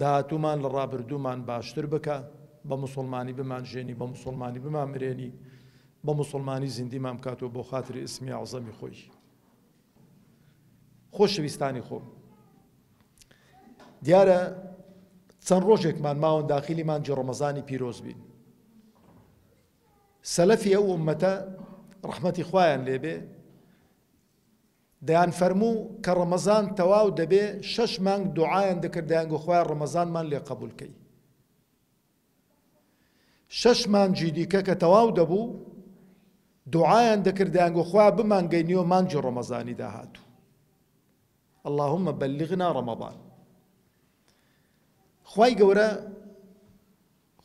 داهاتوومان لە ڕابردوومان باشتر بکە، بە موسوڵمانی بمانژێنی، بە موسوڵمانی بمانمرێنی، بە موسوڵمانی زیندیمان بکاتەوە بۆ خاتری ئیسمی ئەعزەمی خۆی. خۆشەویستانی خۆم، دیارە چەند ڕۆژێکمان ماون داخیلی مانجی ڕەمەزانی پیرۆز بین. سەلەفی ئەو ئومەتە ڕەحمەتی خوایان لێبێ دەیانفەرموو کە ڕەمەزان تەواو دەبێ شەش مانگ دوعایان دەکرد دەیانگۆ خوایە ڕەمەزانمان لێ قەبوول کەی شەش مانجی دیکە کە تەواو دەبوو دوعایان دەکرد دەیانگۆ خوایە بمانگەینیەوە مانجی ڕەمەزانی داهاتوو اللهم بلغنا رمضان خوای گەورە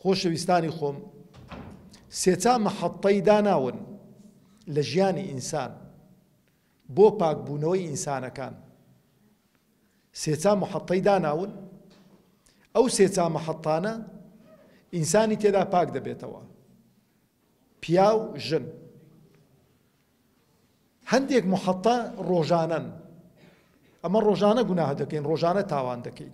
خۆشەویستانی خۆم، سێچا مەحەتەی داناون لە ژیانی ئینسان بۆ پاکبوونەوەی ئینسانەکان. سێچا مەحەتەی داناون، ئەو سێچا مەحەتانە ئینسانی تێدا پاک دەبێتەوە، پیاو، ژن. هەندێک مەحەتە ڕۆژانەن، ئەمە ڕۆژانە گوناه دەکەین، ڕۆژانە تاوان دەکەین.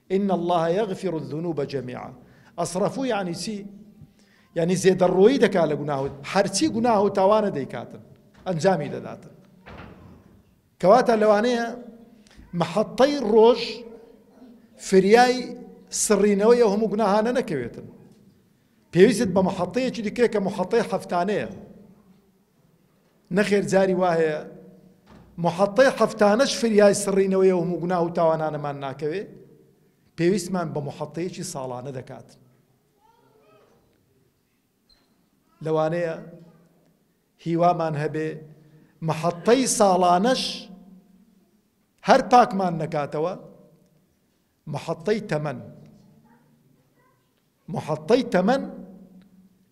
ان اللە یغفر الذنوب جمیعا اصرفو یانی چی یانی زێدەڕۆیی دەکات لە گوناه و هەرچی گوناه و تاوانە دەیکاتن ئەنجامی دەداتن کەواتە لەوانەیە محەتەی ڕۆژ فریای سڕینەوەی ئەو هەموو گوناهانە نەکەوێتن پێویست بە محەتەیەکی دیکە کە محەتەی هەفتانەیە نەخێر جاری وا هەیە محەتەی حەفتانەش فریای سڕینەوەی ئەو هەموو گوناه و تاوانانەمان ناکەوێ پێویستمان بە محەتەیەکی ساڵانە دەکات لەوانەیە هیوامان هەبێ محەتەی ساڵانەش هەر پاکمان نەکاتەوە محەتەی تەمەن، محەتەی تەمەن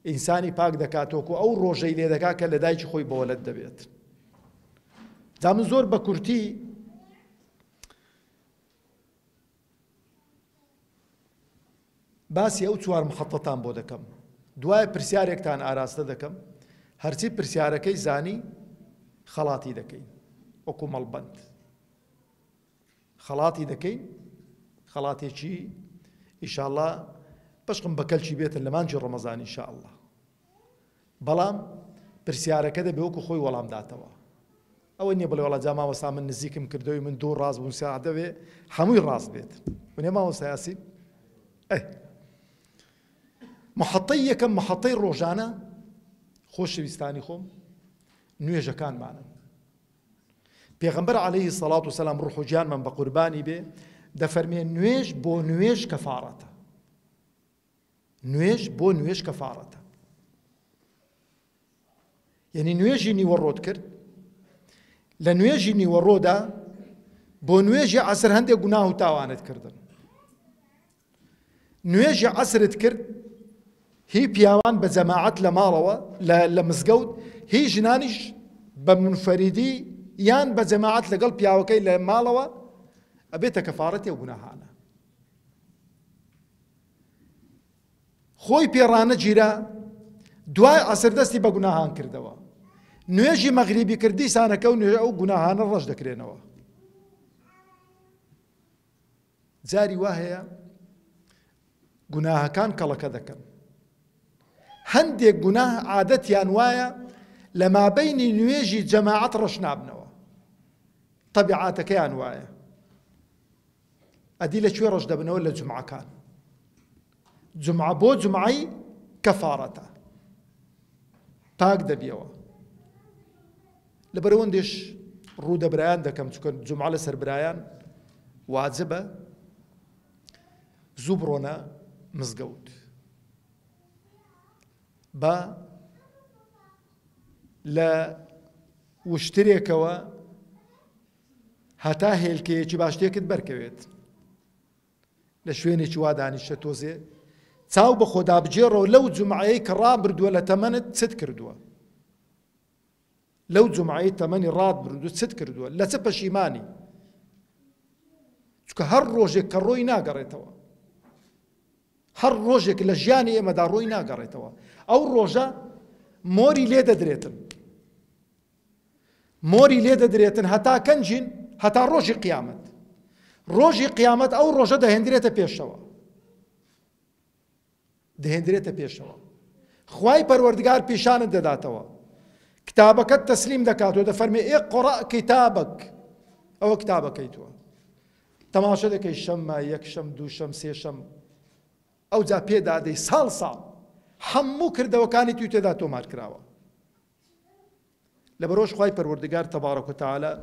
ئینسانی پاک دەکات وەکو ئەو ڕۆژەی لێ دەکات کە لە دایکی خۆی بەوەلەد دەبێت جا من زۆر بە کورتی باسی ئەو چوار محەتەتان بۆ دەکەم دوای پرسیارێکتان ئاراستە دەکەم هەرچی پرسیارەکەی زانی خەڵاتی دەکەین وەکو مەڵبند خەڵاتی دەکەین خەڵاتێکی ئیشاڵا بەشقم بە کەلکی بێتن لە مانجی ڕەمەزان ئیشاءله بەڵام پرسیارەکە دەبێ وەکو خۆی وەڵام داتەوە ئەوە نیە بڵێ وڵا جا ماوەسا من نزیکم کردەوەی من دوو ڕاست بوون ساعت دەوێ هەمووی ڕاست بێت ونێ ماوەسایاسی ئەه محەتەی یەکەم محەتەی ڕۆژانە خۆشەویستانی خۆم نوێژەکانمانن پێغەمبەر علیە سەڵات و سەلام ڕوح و گیانمان بە قوربانی بێ دەفەرمێ نوێژ بۆ نوێژ کەفاڕەتە نوێژ بۆ نوێژ کەفاڕەتە یعنی نوێژی نیوەڕۆت کرد لە نوێژی نیوەڕۆدا بۆ نوێژی عسر هەندێک گوناه و تاوانت کردن نوێژی عەسرت کرد هی پیاوان بە جەماعەت لە ماڵەوە لە مزگەوت هی ژنانیش بە منفەریدی یان بە جەماعەت لەگەڵ پیاوەکەی لە ماڵەوە ئەبێتە کەفارەتی و گوناهانە خۆی پێڕانە گیرا دوای عەسر دەستی بە گوناهان کردەوە نوێژی مەغریبی کردی سانەکە و نوێژ ئەو گوناهانە ڕەش دەکرێنەوە جاری وا هەیە گوناهەکان کەڵەکە دەکەن. هەندێک گوناه عادەتیان وایە لە مابەینی نوێژی جەماعەت ڕەش نابنەوە. تەبیعاتەکەیان وایە. ئەدی لە کوێ ڕەش دەبنەوە لە جومعەکان. جومعە بۆ جومعەی کەفارەتە پاک دەبیەوە لەبەرەوەندێش ڕوودە برایان دەکەم چکە جومعە لەسەر برایان واجبە زوو بڕۆنە مزگەوت بە لە وشترێکەوە هەتا هێلکەیەکی باشتێکت بەرکەوێت لە شوێنێکی وا دانیشە تۆزێ چاو بە خۆدا بگێڕەوە لەو جومعەیەی کە ڕابردووە لە تەمەنت چت کردووە لەو جومعەی تەمەنی ڕات بردو چت کردووە لە چ پەشیمانی چکە هەر ڕۆژێک کە ڕۆی ناگەڕێتەوە هەر ڕۆژێک لە ژیانی ئێمەدا ڕۆی ناگەڕێتەوە ئەو ڕۆژە مۆری لێ دەدرێتن مۆری لێ دەدرێتن هەتا کەنجین هەتا ڕۆژی قیامەت ڕۆژی قیامەت ئەو ڕۆژە دەهێندرێتە پێشەوە دەهێندرێتە پێشەوە خوای پەروەردگار پیشانت دەداتەوە کتابەکەت تەسلیم دەکات و دەفەرمێ ئێ قڕە کتابک ئەوە کتابەکەی توە تەماشە دەکەی شەممە یەکشەم دووشەم سێشەم ئەو جا پێدادەی ساڵ ساڵ هەموو کردەوەکانی توی تێدا تۆمار کراوە لەبەرئەوەش خوای پەروەردگار تبارک و تعالی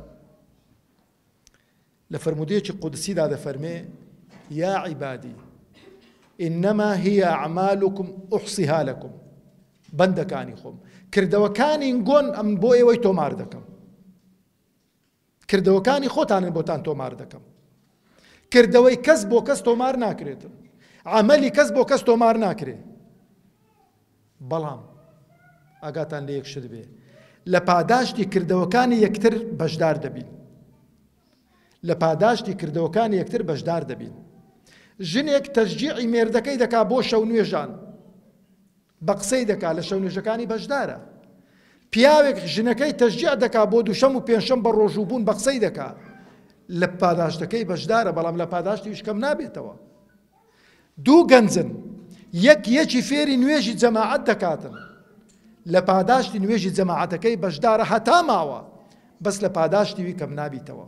لە فەرموودەیەکی قودسیدا دەفەرمێ یا عیبادی انما هي اعمالكم احصيها لكم بەندەکانی خۆم کردەوەکانی گۆن ئەم بۆ ئێوەی تۆمار دەکەم کردەوەکانی خۆتانن بۆتان تۆمار دەکەم کردەوەی کەس بۆ کەس تۆمار ناکرێتن عملی کەس بۆ کەس تۆمار ناکرێ بەڵام ئاگاتان لە یەک شت بێ لە پاداشتی کردەوەکانی یەکتر بەشدار دەبین لە پاداشتی کردەوەکانی یەکتر بەشدار دەبین ژنێک تەشجیعی مێردەکەی دەکا بۆ شەو نوێژان بە قسەی دەکا لە شەونوێژەکانی بەشدارە پیاوێک ژنەکەی تەشجیع دەکا بۆ دووشەم و پێنجشەم بە ڕۆژوو بوون بە قسەی دەکا لە پاداشتەکەی بەشدارە بەڵام لە پاداشتیش کەم نابێتەوە دوو گەنجن یەک یەکی فێری نوێژی جەماعەت دەکاتن لە پاداشتی نوێژی جەماعەتەکەی بەشدارە هەتا ماوە بەس لە پاداشتیوی کەم نابیتەوە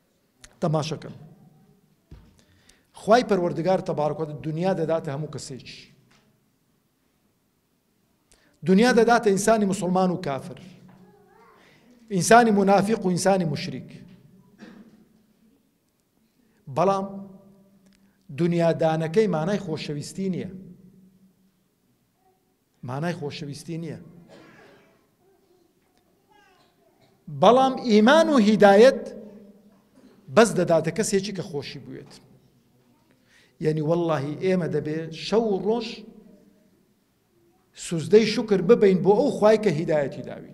تەماشەکەن خوای پەروەردگار تبارک و دنیا دەداتە هەموو کەسێکی دنیا دەداتە ئینسانی مسلمان و کافر ئینسانی منافق و ئینسانی مشریک بەڵام دنیادانەکەی مانای خۆشەویستی نییە مانای خۆشەویستی نییە. بەڵام ئیمان و هیدایەت بەس دەداتە کەسێکی کە خۆشی بوێت یعنی واللهی ئێمە دەبێ شەو ڕۆژ سوزدەی شکر ببین بۆ ئەو خی کە هیدایەتی داوی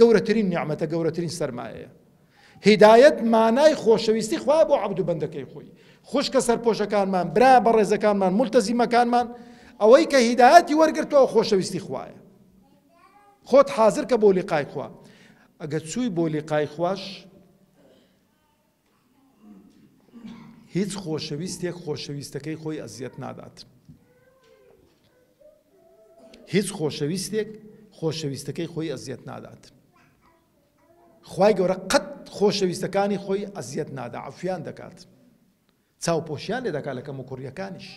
گەورەترین نیعمەتە گەورەترین سەرمایەیە هیدایەت مانای خۆشەویستی خوایە بۆ عەبد و بەندەکەی خۆی خوشکە سەرپۆشەکانمان برا بەڕێزەکانمان ملتەزیمەکانمان ئەوەی کە هیدایەتی وەرگرتەوە خۆشەویستی خوایە خۆت حازر کە بۆ لیقای خوا ئەگە چووی بۆ لیقای خواش هیچ خۆشەویستێک خۆشەویستەکەی خۆی ئەزیەت نادات. هیچ خۆشەویستێک خۆشەویستەکەی خۆی ئەزیەت نادات. خی گەورە قەت خۆشەویستەکانی خۆی ئەزیەت نادا عفیان دەکات. چاوپۆشیان لێ دەکات لە کەم و کوڕیەکانیش.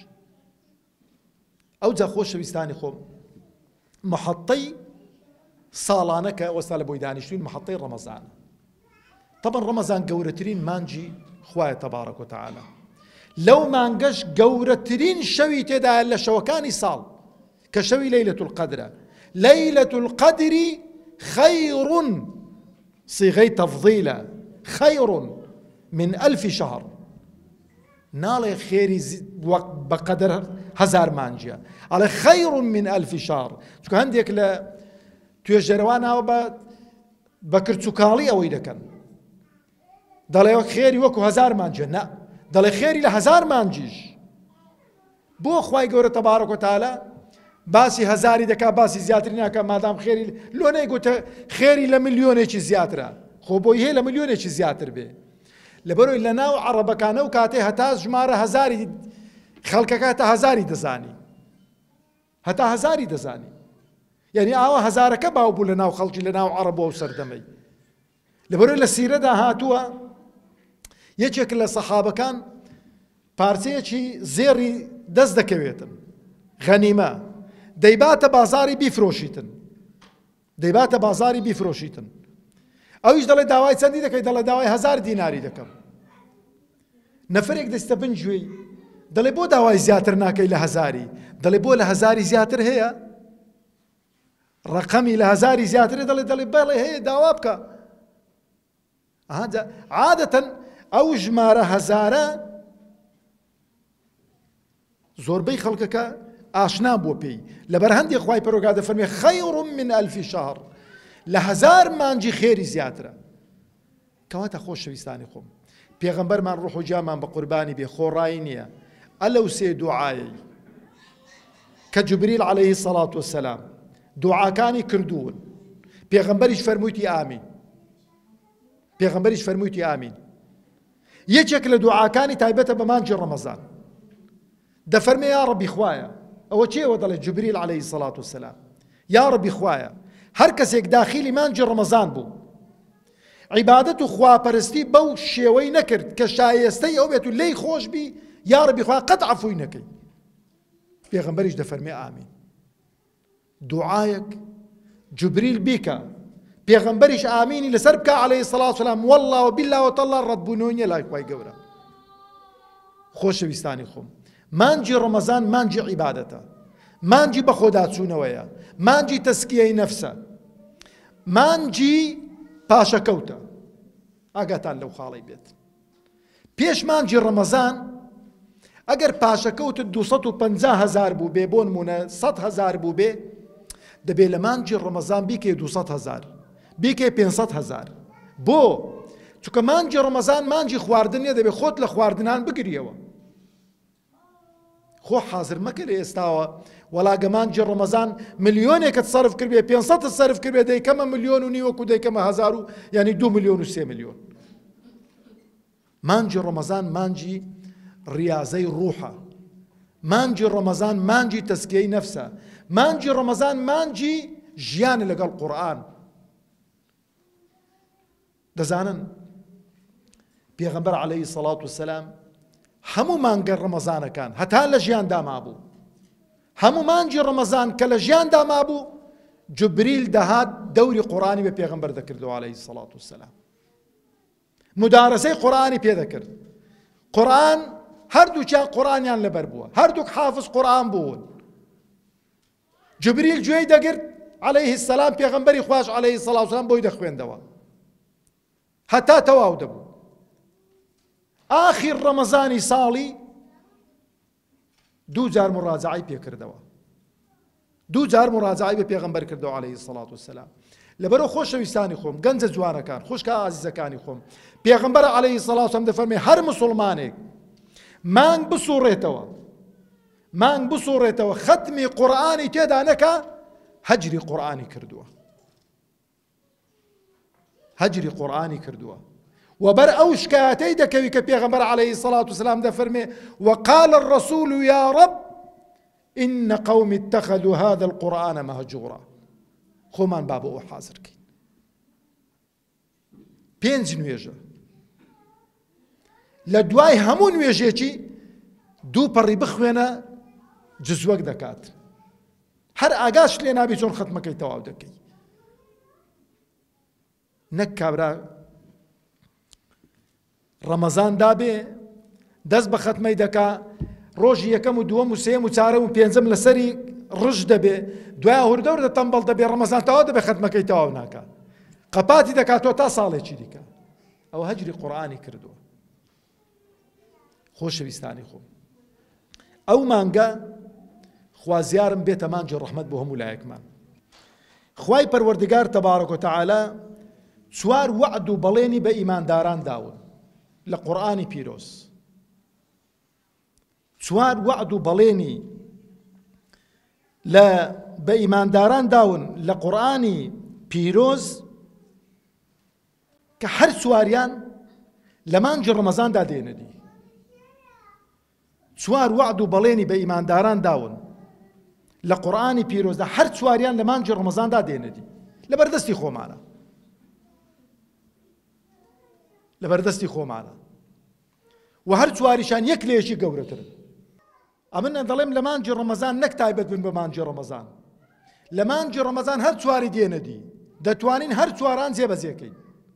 ئەوجا خۆشەویستانی خۆم محەتەی ساڵانە کە وەستا لە بۆی دانیشتوین محەتەی ڕەمەزان طبعا ڕەمەزان گەورەترین مانجی خوایە تەبارەک و تعالی لەو مانگەش گەورەترین شەوی تێدا لە شەوەکانی ساڵ کە شەوی لەیلەت القدرە لەیلەت القدری خەیڕون صیغەی تەفضیلە خەیڕون من ئەلفی شەهر ناڵێ خێری وەک بەقەدەر هەزار مانجە ئەڵێ خەیڕ من ئەلفی شار چکە هەندێک لە توێژەرەوانەوە بە بە کرچوکاڵی ئەوەی دەکەن دەڵێ خێری وەکو هەزار مانجە نە دەڵێ خێری لە هەزار مانجیش بۆ خوای گەورە تبارک و تعالی باسی هەزاری دەکا باسی زیاتری ناکە مادام خێری لۆ نەیگوتە خێری لە ملیۆنێکی زیاترە خۆ بۆی هەیە لە ملیۆنێکی زیاتر بێ لەبەرۆی لە ناو عڕبەکانە و کاتێ هەتا ژمارە هەزاری خەڵکەکە هەتا هەزاری دەزانی هەتا هەزاری دەزانی یانی ئاوا هەزارەکە باو بوو لە ناو خەڵکی لە ناو عەڕەب و سەردەمەی لەبەرۆی لە سیرەدا هاتووە یەکێک لە سەحابەکان پارچەیەکی زێڕی دەست دەکەوێتن غەنیمە دەیباتە بازاری بیفرۆشیتن دەیباتە بازاڕی بیفرۆشیتن. ئەویش دەڵێ داوای چەندی دەکەی دەڵێ داوای هەزار دیناری دەکەم. نەفرێک دەستە بن گوێی دەڵێ بۆ داوای زیاتر ناکەی لە هەزاری دەڵێ بۆ لە هەزاری زیاتر هەیە ڕقەمی لە هەزاری زیاتر دەڵێ دەڵێ بەڵێ هەیە داوا بکە ئەها جا عادەتەن ئەو ژمارە هەزارە زۆربەی خەڵکەکە ئاشنا بووە پێی لەبەر هەندێک خوای پەرۆگا دەفەرمێ خەیڕم من ئەلفی شەهر لە هەزار مانجی خێری زیاترە کەواتە خۆشەویستانی خۆم پێغەمبەرمان ڕوح و جامان بە قوربانی بێ خۆڕایی نییە ئەلەو سێ دوعاایی کە جبریل عليهەیهی سەڵات وسلام دوعاکانی کردوون پێغەمبەریش فەرموویتی ئامین پێغەمبەریش فەرموویەتی ئامین یەکێک لە دوعاکانی تایبەتە بە مانگی ڕەمەزان دەفەرمێ یا ڕەبی خوایە ئەوە چێوە دەڵێ جبریل عليه سەڵات و سەسلام یا ڕەبی خوایە هەر کەسێک داخیلی مانجی ڕەمەزان بوو عیبادەت و خواپەرستی بەو شێوەی نەکرد کە شایستەی ئەو بێت و لی خۆش بی یا ڕەبی خوا قەت عفوی نەکەی پێغمبەریش دەفەرمێ ئامین دوعایەک جبریل بیکە پێغەمبەریش ئامینی لەسەر بکا عەلەیهی سەڵات سەلام وەڵڵا و بیللا و تەڵڵا ڕەتبوونەوەی نیە لای خوای گەورە خۆشەویستانی خۆم مانجی ڕەمەزان مانجی عیبادەتە مانجی بەخۆداچوونەوەیە مانجی تەسکیەی نەفسە مانجی پاشەکەوتە ئاگاتان لەو خاڵی بێت پێش مانگی ڕەمەزان ئەگەر پاشەکەوتت دوو سەد و پەنجا هەزار بووبێ بۆ نموونە سەد هەزار بووبێ دەبێ لە مانگی ڕەمەزان بیکەی دوو سەد هەزار بیکەی پێنج سەد هەزار بۆ چونکە مانگی ڕەمەزان مانگی خواردن نیە دەبێ خۆت لە خواردنان بگریەوە خۆ حازر مەکە لە ئێستاوە وەڵا گە مانگی ڕەمەزان ملیۆنێکت سەرف کردبێ پێنج سەدت سەرف کردبێ دەیکەمە ملیۆن و نیوەک و دەیکەمە هەزار و یانی دوو ملیۆن و سێ ملیۆن مانگی ڕەمەزان مانگی ڕیازەی ڕوحە مانگی ڕەمەزان مانگی تەسکیەی نەفسە مانگی ڕەمەزان مانگی ژیانە لەگەڵ قورآن دەزانن پێغەمبەر عەلەیهی سەڵات و سەلام هەموو مانگە ڕەمەزانەکان هەتا لە ژیاندا مابوو هەموو مانگی ڕەمەزان کە لە ژیاندا مابوو جبریل دەهات دەوری قۆرانی بە پێغەمبەر دەکردەوە عەلەیهی سەڵات و سەلام مدارەسەی قۆرانی پێ دەکرد قۆران هەردووچیان قۆرانیان لەبەر بووە هەردووک حافظ قۆران بوون جبریل گوێی دەگرت علیه السلام پێغەمبەری خواش علیه الصلوة والسلام بۆی دەخوێندەوە هەتا تەواو دەبوو ئاخیر ڕەمەزانی ساڵی دوو جار مڕاجعی پێکردەوە دوو جار مڕاجعی بە پێغەمبەر کردەوە عليه الصلاة والسلام لەبەرو خۆشەویستانی خۆم گەنجە جوانەکان خوشکە ئازیزەکانی خۆم پێغمبەر عليه سەڵاوسم دەفەرمێ هەر مسلمانێک مانگ بسوڕێتەوە مانگ بسوڕێتەوە خەتمی قورئانی تێدا نەکا هەجری قورئانی کردووە هەجری قورئانی کردووە وبر او شکایەتەی دەکەوی کە پێغەمبەر عليه سلاات وسلام دەفەرمێ وقال الرسول يا رب إن قوم اتخذوا هذا القرآن مهجورا خۆمان با بۆ ئەو حازرکەین پێنج نوێژە لە دوای هەموو نوێژێکی دوو پەڕی بخوێنە جزوەک دەکات هەر ئاگاش لێ نابی چۆن خەتمەکەی تەواو دەکەی نەک کابرا ڕەمەزان دابێ دەست بە خەتمەی دەکا ڕۆژی یەکەم و دووەم و سێم و چارەم و پێنجەم لەسەری ڕژ دەبێ دوای هوردەور دە تەمبەڵ دەبێ ڕەمەزان تەوا دەبێ خەتمەکەی تەواو ناکە قەپاتی دەکاتەوە تا ساڵێکی دیکە ئەوە هەجری قورآانی کردووە خۆشەویستانی خۆم ئەو مانگە خوازیارم بێتە مانگی ڕەحمەت بۆ هەموو لایەکمان خوای پەروەردگار تبارک و تعالی چوار وعد و بەڵێنی بە ئیمانداران داون لە قورآانی پیرۆز چوار وعد و بەڵێنی لە بە ئیمانداران داون لە قورآانی پیرۆز کە هەر چواریان لە مانگی ڕەمەزاندا دێنەدی چوار وەعد و بەڵێنی بە ئیمانداران داون لە قورئانی پیرۆزدا هەر چواریان لە مانگی ڕەمەزاندا دێنە دی لە بەردەستی خۆمانە لە بەردەستی خۆمانە و هەر چواریشان یەک لێشی گەورەترن ئەمن دەڵێم لە مانجی ڕەمەزان نەک تایبەت بن بە مانجی ڕەمەزان لە مانجی ڕەمەزان هەر چواری دێنە دی دەتوانین هەر چواران جێبەجێکەین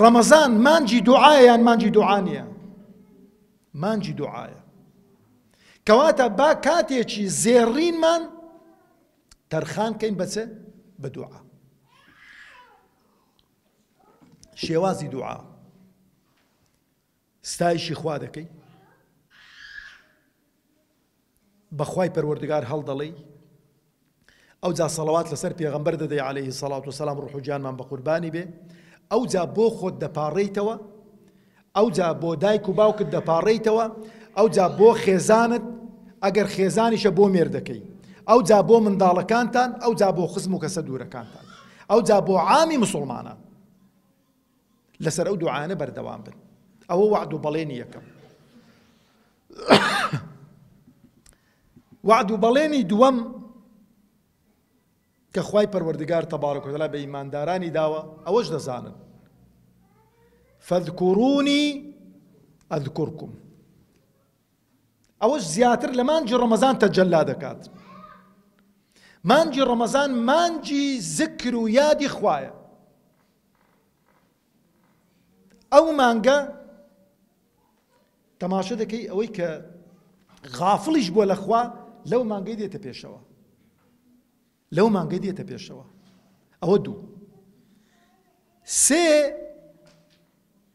ڕەمەزان مانجی دوعایە یان مانجی دوعا نییە مانجی دوعایە کەواتە با کاتێکی زێڕینمان تەرخان کەین بەچێ بە دوعا شێوازی دوعا ستایشی خوا دەکەی بەخوای پەروەردگار هەڵدەڵێی ئەوجا سەڵەوات لەسەر پێغەمبەر دەدەی عليه سەڵات و سەسلام ڕوح و گیانمان بە قوربانی بێ ئەوجا بۆ خۆت دەپاڕیتەوە ئەوجا بۆ دایک و باوکت دەپاڕیتەوە ئەوجا بۆ خێزانت ئەگەر خێزانیشە بۆ مێردەکەی ئەوجا بۆ منداڵەکانتان ئەوجا بۆ خزم و کەسە دوورەکانتان ئەوجا بۆ عامی مسلمانان لەسەر ئەو دوعانە بەردەوام بن ئەوە وعد و بەڵێنی یەکەم وعد و بەڵێنی دووەم کە خوای پەروەردگار تەبارە کۆتەلا بە ئیماندارانی داوە ئەوەش دەزانن فەذکوڕونی ئەذکورکم ئەوەش زیاتر لە مانجی ڕەمەزان تەجللا دەکات مانجی ڕەمەزان مانجی زکر و یادی خوایە ئەو مانگە تەماشە دەکەی ئەوەی کە غافڵیش بووە لە خوا لەو مانگەی دێتە پێشەوە لەو مانگەی دێتە پێشەوە ئەوە دوو سێ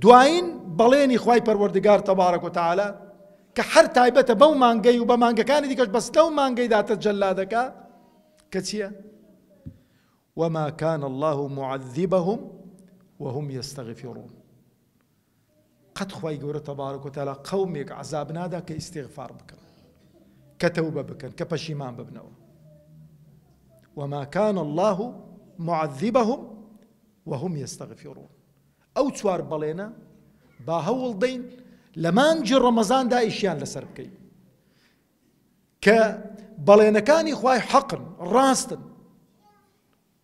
دوایین بەڵێنی خوای پەروەردگار تبارک و تعالی کە هەر تایبەتە بەو مانگەی و بە مانگەکانی دیکەش بەس لەو مانگەیدا تەجەللا دەکا کە چییە؟ وما كان الله معذبهم وهم يستغفرون قەت خوای گەورە تبارک و تعالی قەومێک عەزاب نادا کە ئیستیغفار بکەن کە تەوبە بکەن کە پەشیمان ببنەوە وما كان الله معذبهم وهم يستغفرون ئەو چوار بەڵێنە با هەوڵ دەین لە مانجی ڕەمەزان دایشیان لەسەر بکەین کە بەڵێنەکانی خوای حەقن ڕاستن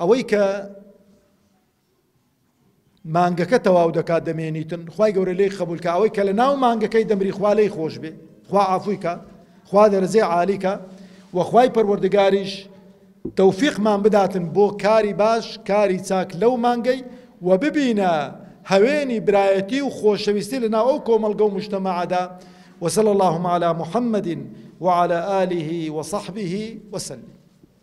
ئەوەی کە مانگەکە تەواو دەکات دەمێنیتن خوای گەورە لێی قبول کە ئەوەی کە لە ناو مانگەکەی دەمری خوا لەی خۆش بێ خوا ئافویکە خوا دەرزێ عالیکە وەخوای پەروەردگاریش تەوفیقمان بداتن بۆ کاری باش کاری چاک لەو مانگەی و ببینە هەوێنی برایەتی و خۆشەویستی لە ناو ئەو کۆمەلگە و مشتەمەعدا وصلى اللهم على محمد وعلى آله وصحبه وسلم